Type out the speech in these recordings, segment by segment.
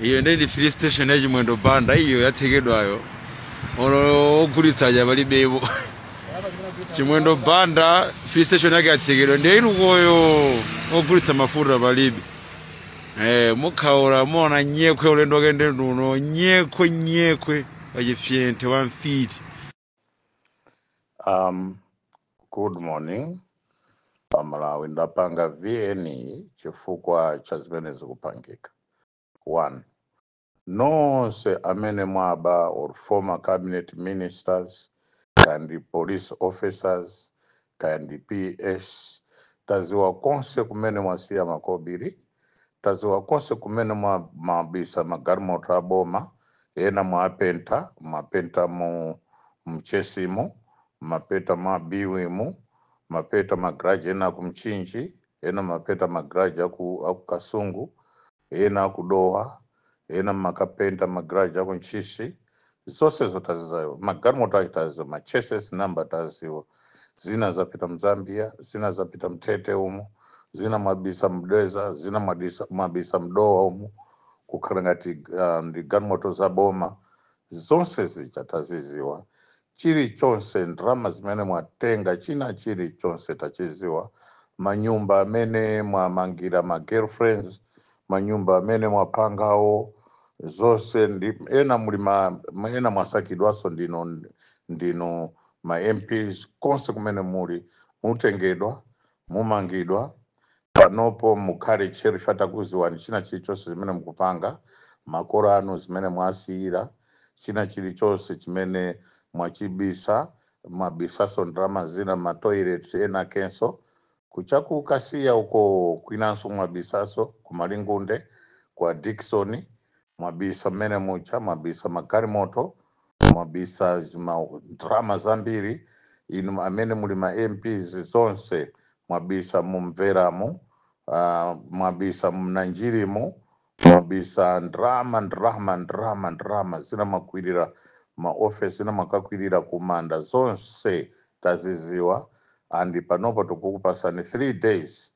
iyo ndi ndi filling station ya chimwendo banda iyo yatsekedwayo olo ogulitsa aja palibepo chimwendo banda filling station yake yatsekedwa ndiye ili ukoyo ogulitsa mafuta palibe eh mukhaula muona nyekhwe ulendo wake ndi uno nyekhwe nyekhwe wa chifyenthe wa mfiti Um, good morning. Pamalawi ndapanga VN-yi chifukwa cha zimene zikupangika. One, nonse amene mwaba or former cabinet ministers and police officers kaya ndi PS, taziwa konse kumene mwasiya makobili, taziwa konse kumene mwawabisa magalimoto a boma, ena mwapenta, mwapenta mu mchesimu, mwapenta mwa Biwimu, mwapenta ma garage ena aku Mchinji, ena mwapenta ma garage aku, aku Kasungu, ena akudowa ena mwakapenta magaraji aku ntchisi zonsezo taziziwa magalimoto ake taziwa ma chassis namba taziwa zina zapita mzambia zina zapita mtete umu zina mwabisa mdeza zina mwadisa- mwabisa mdowa umu kukhala ngati uh, ndi galimoto za boma zonse zija taziziwa chirichonse, ndalama zimene mwatenga, china chirichonse tachidziwa, manyumba amene mwamangira ma girlfriends, manyumba amene mwapangawo, zonse ena muli ma ma- ena mwasankhidwanso ndinu ndinu ma MPs konse kumene muli mutengedwa Mumangidwa. Panopo mukhale tcheru ife takuziwani china chilichonse chimene mukupanga, makolo anu zimene mwasiyira, china chilichonse chimene mwachibisa, mwabisaso ndalama zina mma toilets kenakenso, ku cha ku Kasiya uko kwinanso mwabisaso, ku Malingunde, kwa Dickson, mwabisa mmene muja, mwabisa magalimoto, mwabisa ndrama zambiri inu amene muli ma mps zonse mwabisa mumveramu uh, mwabisa mnanjirimu mwabisa ndrama ndrama ndrama ndrama zina mwakwirira maofesi zina mwakakwirira kumanda zonse taziziwa and panopa tikukupasani 3 days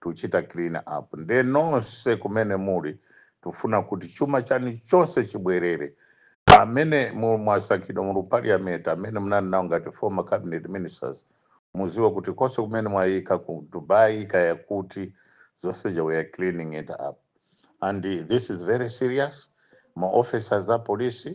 tuchita clean up nde nonse kumene muli tufuna kuti chuma chani chonse chibwerere amene mwasankhidwa muli mu parliament amene munali nawo ngati former cabinet ministers muziwe kuti konse kumene mwayika ku Dubai kaya kuti zonse zija we are cleaning it up and this is very serious ma officers a police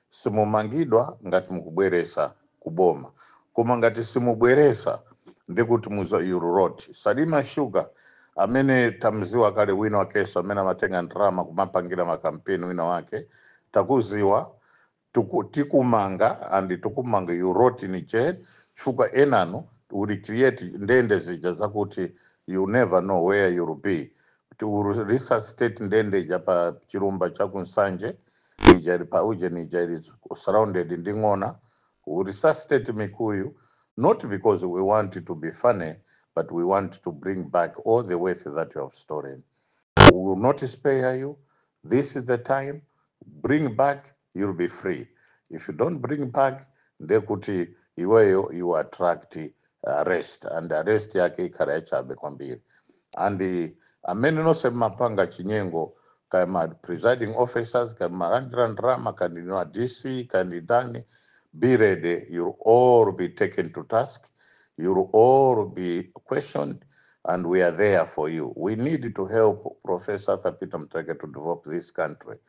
Simumangidwa ngati mukubweresa ku boma koma ngati simubweresa ndiye kuti muza you'll rot. Salima sugar amene tamziwa kale wina wakeso amene amatenga ndalama kumapangira ma campaign wina wake takuziwa Tuku, tikumanga and tukumanga you'll rot in jail chifukwa enanu we'll create ndende zija zakuti you never know where you'll be to resuscitate ndende ija pa chilumba cha ku nsanje ija ili pa ujeni ija ili surrounded ndi ng'ona we resuscitate mikuyu not because we want to be funny but we want to bring back all the wealth that you have stolen we will not spare you this is the time bring back you'll be free if you don't bring back ndekuti iweyo you attract arrest and arrest yake ikhala yachabe kwambiri and eh, amene nonse mmapanga chinyengo kaya ma presiding officers kaya malandira ndalama kaya ndinu a dc kaya ndi ndani be ready you'll all be taken to task you'll all be questioned and we are there for you we need to help professor arthur peter mutharika to develop this country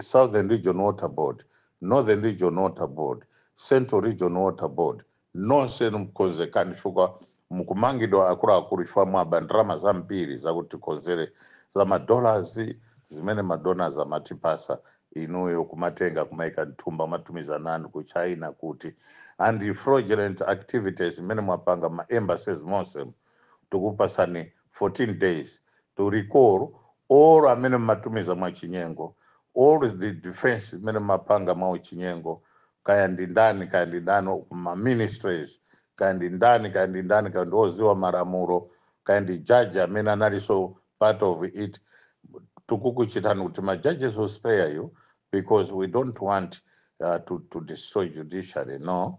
Southern Region Water Board, Northern Region Water Board, Central Region Water Board, nonse mkonzekani chifukwa mkumangidwa akuluakulu chifukwa mwaba ndalama zambiri zakuti tikonzere za madollars zimene madonors amatipasa inuyo kumatenga kumaika mthumba matumiza ana anu ku China kuti and fraudulent activities zimene mwapanga ma embassies monse tukupasani 14 days to recall all amene mmatumiza mwachinyengo all the defense imene mmapanga mwauchinyengo kaya ndi ndani kaya ndi ndani ma ministries kaya ndi ndani kaya ndi ndani kaya ndi oziwa malamulo kaya ndi judge amene analinso part of it tikukuchitani kuti ma judges we'll spare you because we don't want uh, to, to destroy judiciary no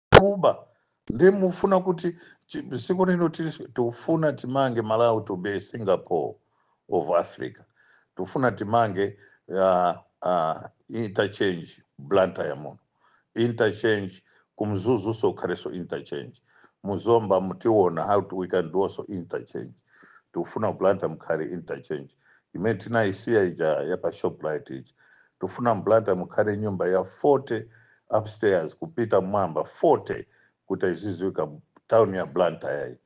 kuba nde mufuna kuti chi- siku lino tili- tikufuna timange malawi to be singapore of africa tikufuna timange uh, uh, interchange blantyre muno interchange ku mzuzuso kukhaleso interchange muzomba mutiona how to- we can do also interchange tikufuna blantyre mukhale interchange imene tinayisiya ija ya pa shoprite ija tufuna mblantyre mukhale nyumba ya 40 upstairs kupita mwamba 40 kuti iziziwika town ya blantyre yi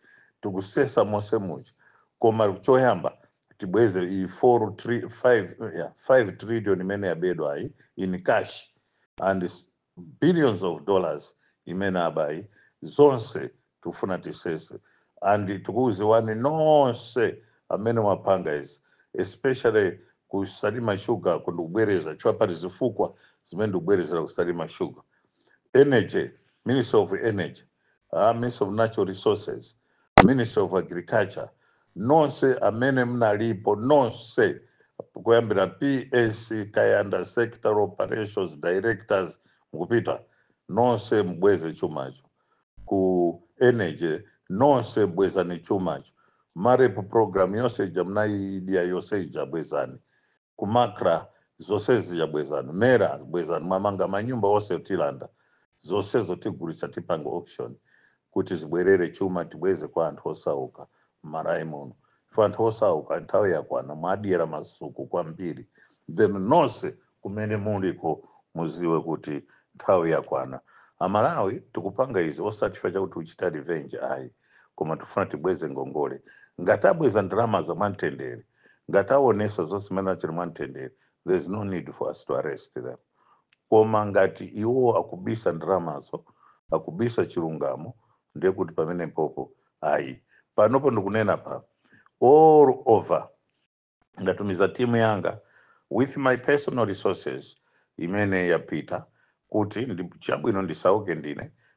tikusesa monse muja koma choyamba tibweze iyi 4 tri- 5 yeah, 5 trillion imene yabedwayi in cash and s- billions of dollars imene abayi zonse tufuna tisese and tikukuziwani nonse amene mwapanga izi especially ku salima sugar ku ndikubwereza chifukwa pali zifukwa zimene ndikubwerezera ku salima sugar energy ministry of energy ministry of natural resources ministry of agriculture nonse amene mnalipo nonse kuyambira ps kayanda sector operations directors mukupita nonse mbweze chumacho ku energy nonse bwezani chumacho marep program yonse ija mnaidya yonse ija bwezani ku macra zose zija bwezani mera bwezani mwamanga manyumba onse tilanda zonsezo tigulitsa tipanga auction kuti zibwerere chuma tibweze kwa anthu osauka m'malawi muno ife anthu osauka nthawi yakwana mwadyera masuku kwambiri then nonse kumene muliko muziwe kuti nthawi yakwana amalawi tikupanga izi osati chifukwa chakuti tikuchita revenge ayi koma tifuna tibweze ngongole ngati abweza ndalama za mwamtendere ngati awonesa zonse zimene achita mwamtendere there is no need for us to arrest them koma ngati iwo akubisa ndalamazo akubisa chilungamo ndiye kuti pamenepopo ayi panopo ndikunena pa all over ndatumiza timu yanga with my personal resources imene yapita kuti chabwino ndisauke ndine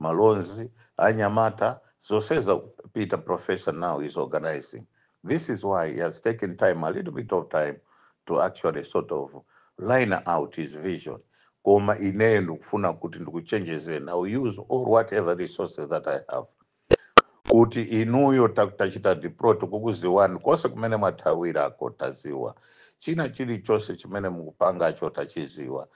malonzi anyamata zosezo peter professor now is organizing this is why he has taken time a little bit of time to actually sort of line out his vision koma ineyo ndikufuna kuti ndikuchenjezeni i will use all whatever resources that i have kuti inuyo ta- tachita deploy tikukuziwani konse kumene mwathawirako taziwa china chilichonse chimene mukupangacho tachiziwa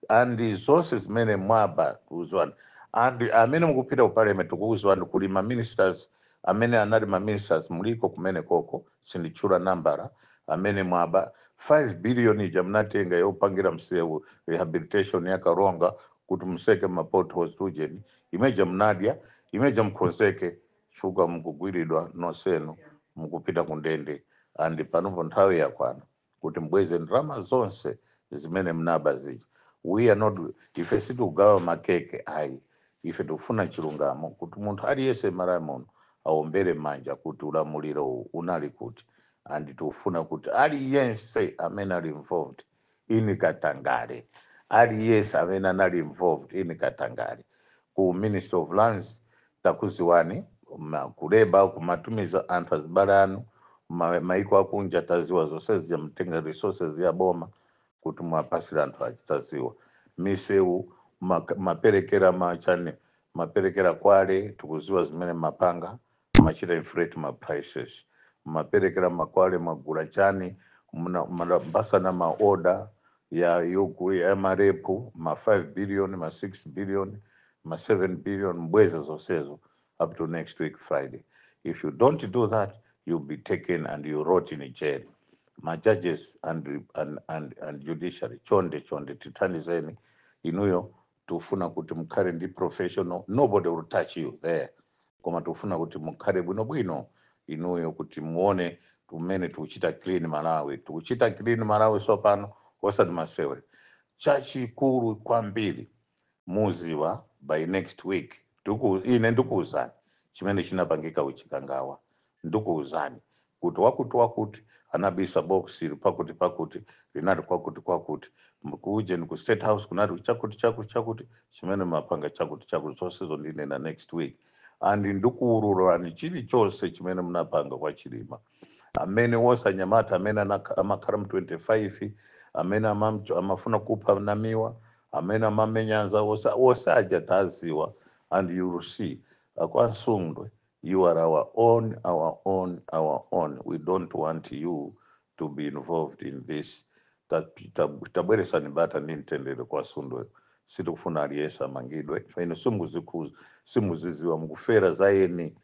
andi zonse zimene mwaba tikuziwani andi amene mukupita ku parliament tikukuziwani kuli ma ministers amene anali ma ministers muliko kumene koko sinditchula nambala amene mwaba 5 billion ija munatenga yopangira msewu rehabilitation ya karonga kuti museke ma potholes tujeni imeja mnadya imeja mukonzeke chifukwa mukugwiridwa nonsenu mukupita kundende and panopo nthawi yakwana kuti mbweze ndalama zonse zimene mnaba zija we are not ife sitikugawa makeke ayi ife tikufuna chilungamo kuti munthu aliyense m'malawi muno aombere manja kuti ulamuliro uwu unali kuti and tikufuna kuti aliyense amene ali involved in katangale aliyese amene anali involved in katangale ku ministry of lands takuziwani ma- kuleba kumatumiza anthu azibale anu ma- maiko akunja taziwa zonse zija mutenga resources ya boma kuti muwapasire anthu achi taziwa misewu mak- maperekera ma china maperekera kwale tikuziwa zimene mapanga Mumachita inflate ma prices? Mumapelekera ma kwale mwagula chani? Muna munapasana ma order ya yogu ya ma rep ma 5 billion ma 6 billion ma 7 billion mubweze zonsezo up to next week Friday. If you don't do that you'll be taken and you rot in jail. Ma judges and, and, and, and judiciary chonde chonde tithandizeni inuyo tufuna kuti mukhale ndi professional nobody will touch you there koma tufuna kuti mukhale bwinobwino inuyo kuti muone mmene tukuchita clean malawi tukuchita clean malawi sopano osati masewera chachikulu kwambiri muziwa by next week ine ndikuwuzani chimene chinapangika uchikangawa Ndikuuzani, kuti wakuti-wakuti anabisa box pakuti-pakuti linati kwakuti-kwakuti, ku ujeni ku state house kunati chakuti chakuti chakuti, chimene mumapanga chakuti chakuti, zonsezo ndinena next week, and ndikuululani chilichonse chimene munapanga kwa Chilima, amene wonse anyamata amene anak- amakhala mu 25 amene amamcho- amafuna kupha Namiwa, amene amamenya anzawo wonse wonse aja taziwa and you will see akwa Msundwe You are our own, our own, our own. We don't want you to be involved in this. Ta- ta- Tabweresani bata ndi mtendere kwa Msundwe. Sitikufuna aliyense amangidwe. Inu simuzikhuza, simuziziwa mukufera za eni.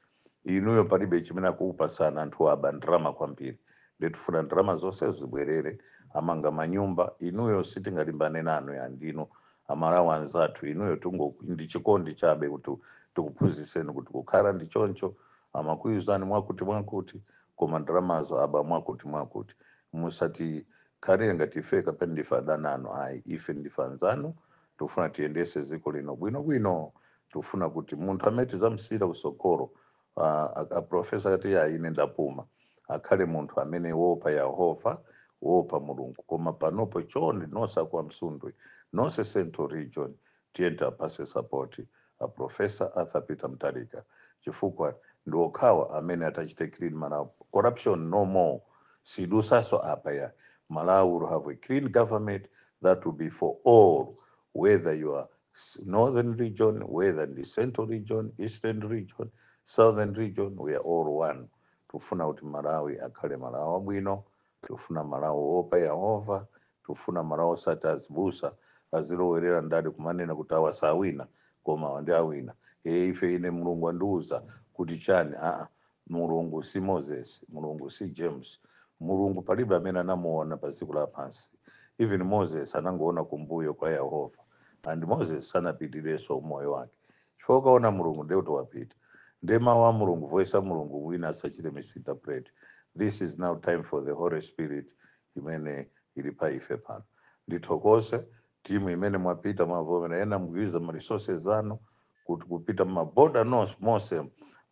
Inuyo palibe chimene akukupatsani anthu aba ndalama kwambiri. Nde tufuna ndalama zonse zibwerere amanga manyumba. Inuyo sitingalimbane nanu ayi ndinu. amalawi anzathu inuyo tungo ndi chikondi chabe kuti tikuphunzitseni kuti kukhala ndi choncho amakuuzani mwakuti mwakuti koma ndalamazo aba mwakuti mwakuti musatikhalire ngati ife kapena ndife adani anu ayi ife ndife anzanu tikufuna tiyendese dziko lino bwinobwino tikufuna kuti munthu amene tidzamsiyira kusogolo Ah, a- a profesa ati "Ya, ine ndapuma akhale munthu amene woopa yehova woopa mulungu koma panopo chonde nonse akwa Msundwe nonse central region tiyeni tiwapase sapoti a profesa arthur peter Mutharika chifukwa ndi okhawa amene atachite clean malawi corruption no more sidutsanso apa ya malawi will have a clean government that will be for all whether you are S- Northern region, whether ndi central region, eastern region, southern region, we are all one. Tufuna kuti Malawi akhale Malawi wabwino, tufuna Malawi woopa Yehova, tufuna Malawi osati azibusa azilowerera ndale kumanena kuti awa sawina koma awa ndi owina. E, ife ine Mulungu andiuza kuti chani? Aa, mulungu si moses mulungu si james mulungu palibe amene anamuona pa dziko lapansi even moses anangoona kumbuyo kwa yehova and moses sanapitirenso umoyo wake chifukwa ukaona mulungu ndiye kuti wapita ndiye mawu a mulungu voice a mulungu wina asachite misinterpret this is now time for the holy spirit imene ili pa ife pano ndithokoze timu imene mwapita mwavomera ena nkuikiza ma resources anu kuti kupita mumaboda monse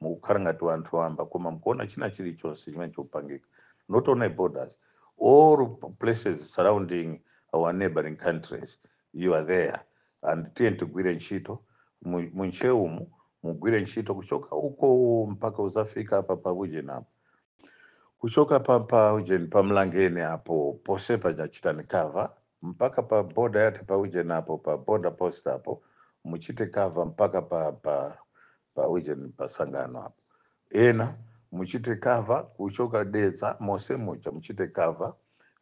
mukukhala ngati wanthu wamba koma mkuona china chilichonse chimene chopangika not only borders all places surrounding our neighboring countries you are there and tiye tigwire ntchito mu- munchewumu mugwire ntchito kuchoka uko mpaka uzafika apa pa ujeni apo kuchoka pa pa ujeni pa mlangeni apo ponse pachachitani cover mpaka pa boda yathu pa ujeni apo pa boda post apo muchite cover mpaka pa pa pa ujeni pa sangano apo ena muchite cover kuchoka dedza mose muja muchite cover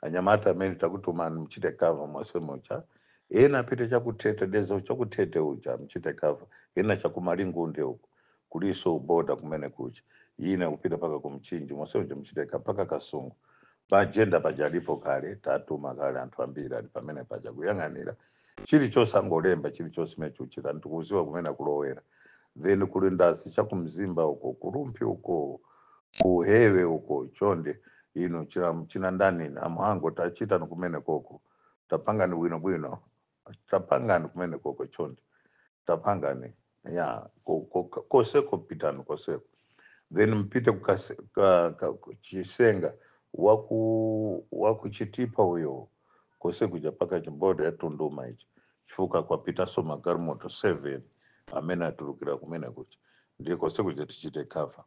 anyamata amene takutumani muchite cover mose muja ena apite chakuthete dedza chakuthete uja muchite cover ena chakumalingunde uko kuliso boda kumene kuja ena kupita paka kumchinji monse muja muchite cover paka kasungu pa jenda paja alipo kale tatuma kale anthu ambiri ali pamene paja kuyang'anira chilichonse angolemba chilichonse mene chuchitika ndikuziwa kumene akulowera then kuli ndasi chakumzimba uko kurumphi uko kuhewe uko chonde inu china, china ndani amhango tachitani kumene koko tapangani bwinobwino tapangani kumene koko chonde tapangani ya koseko pitani koseko then mpite chisenga waku wakuchitipa uyo kose kuja paka chimboda ya tunduma ichi chifukwa kwapitaso magalimoto 7 amene atulukira kumene kuja ndiye kose kuja tichite cover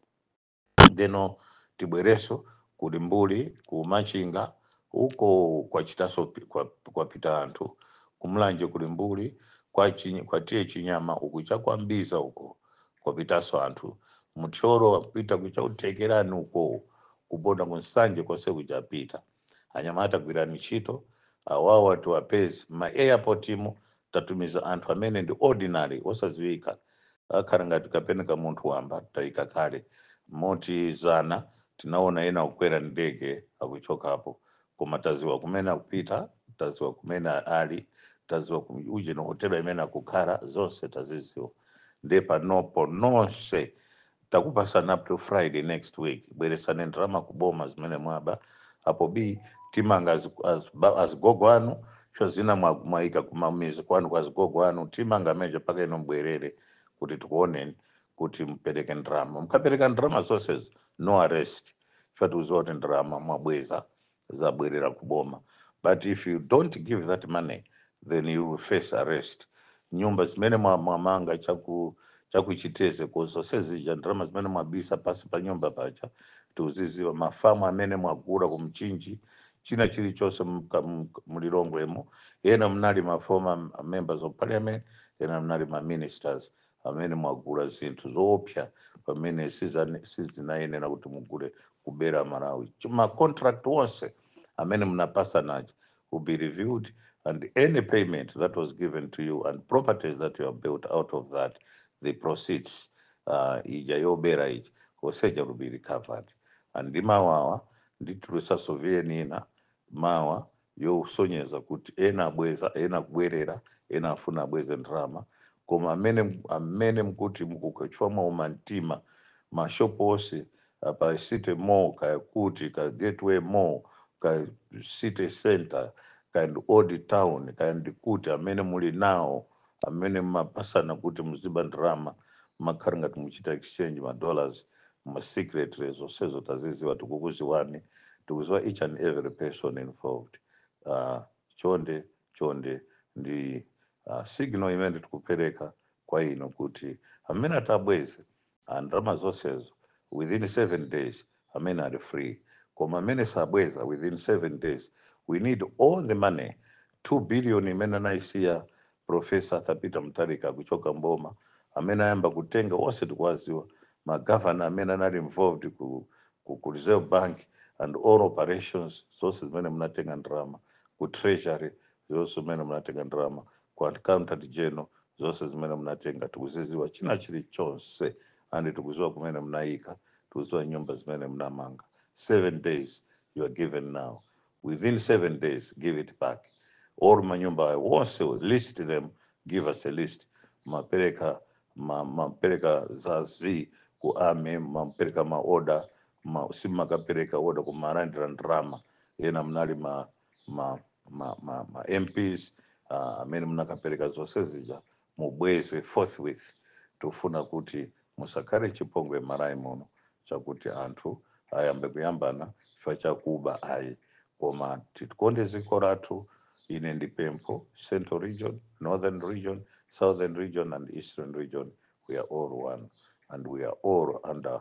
ndeno tibwereso ku limbuli ku machinga uko kwachitaso kwa, kwapita anthu kumulanje ku limbuli kwa, chi, kwa TA chinyama uku chakwambiza uko kwapitaso anthu muthyolo wapita kucha ku thekerani uko kuboda ku nsanje konse kuja apita anyamata gwirani ntchito awawa tiwapeze ma airport mu tatumiza anthu amene ndi ordinary osaziwika akhala ngati kapena ka munthu wamba taika kale moti zana tinaona ena kukwera ndege akuchokapo koma taziwa kumene akupita taziwa kumene ali taziwa ujeni hotela imene akukhala zonse taziziwa nde panopo nonse takupasani up to friday next week bweresani ndalama ku boma zimene mwaba apo b timanga azigogo az, ba- azigogo anu cho zina mwa- mwaika kumamizi kwanu kwa azigogo anu timanga ameneja paka ino mbwerere kuti tikuoneni kuti mupereke ndalama mukapereka ndalama zonsezo no arrest chifukwa tiuziwa kuti ndalama mwabweza zabwerera ku boma but if you don't give that money then you will face arrest nyumba zimene mwa- mwamanga chaku chakuchiteze uko zonse zija ndalama zimene mwabisa pasi pa nyumba paja tiuziziwa mafamu amene mwagula kumchinji china chilichonse mka- mk- mlilongwemo ena mnali ma former members of parliament ena mnali ma ministers amene mwagula zinthu zoopsa pamene sizane- sizinayenera kuti mugule kubera malawi Chi- ma contract onse amene munapasana aja will be reviewed and any payment that was given to you and properties that you have built out of that the proceeds uh, ija yobera ija yonse ija will be recovered and ndi mawa nditulusaso VN ina mawa yosonyeza kuti ena abweza ena kubwerera ena afuna abweze ndalama koma amene amene mkuti mukukachwa mwaumamtima mashop onse apa city mall kaya kuti kaya gateway mall kaya city center kaya ndi old town kaya ndi kuti amene muli nawo amene mmapasana kuti muziba ndalama mmakhara ngati muchita exchange ma dollars ma secretary zonsezo taziziwa tikukuziwani tikuziwa each and every person involved uh, chonde chonde ndi uh, signal imene tikupereka kwa inu kuti amene atabweze and ndalama zonsezo within 7 days amene ali free koma amene sabweza within 7 days we need all the money 2 billion imene anayisiya professor Arthur Peter Mutharika kuchoka mboma amene ayamba kutenga onse tikuwaziwa magavana amene anali involved ku, ku, ku reserve bank and all operations zonse zimene munatenga ndalama ku treasury zonse zimene munatenga ndalama ku accountant general zonse zimene munatenga tikuziziwa china chilichonse and tikuziwa kumene munayika tikuziwa nyumba zimene munamanga seven days you are given now within seven days give it back all manyumba wonse list them give us a list mapereka ma- mapereka za z ku army mapereka maoda ma, simmakapereka oda kumalandira ndrama ena mnali ma ma, ma, ma, ma mps ah, amene munakapereka zonse zija mubweze forthwith tofuna kuti musakhale chipongwe Malawi muno chakuti anthu ayambe kuyambana chifukwa chakuba ayi koma titikonde dziko lathu ine ndi pempho central region northern region southern region and eastern region we are all one and we are all under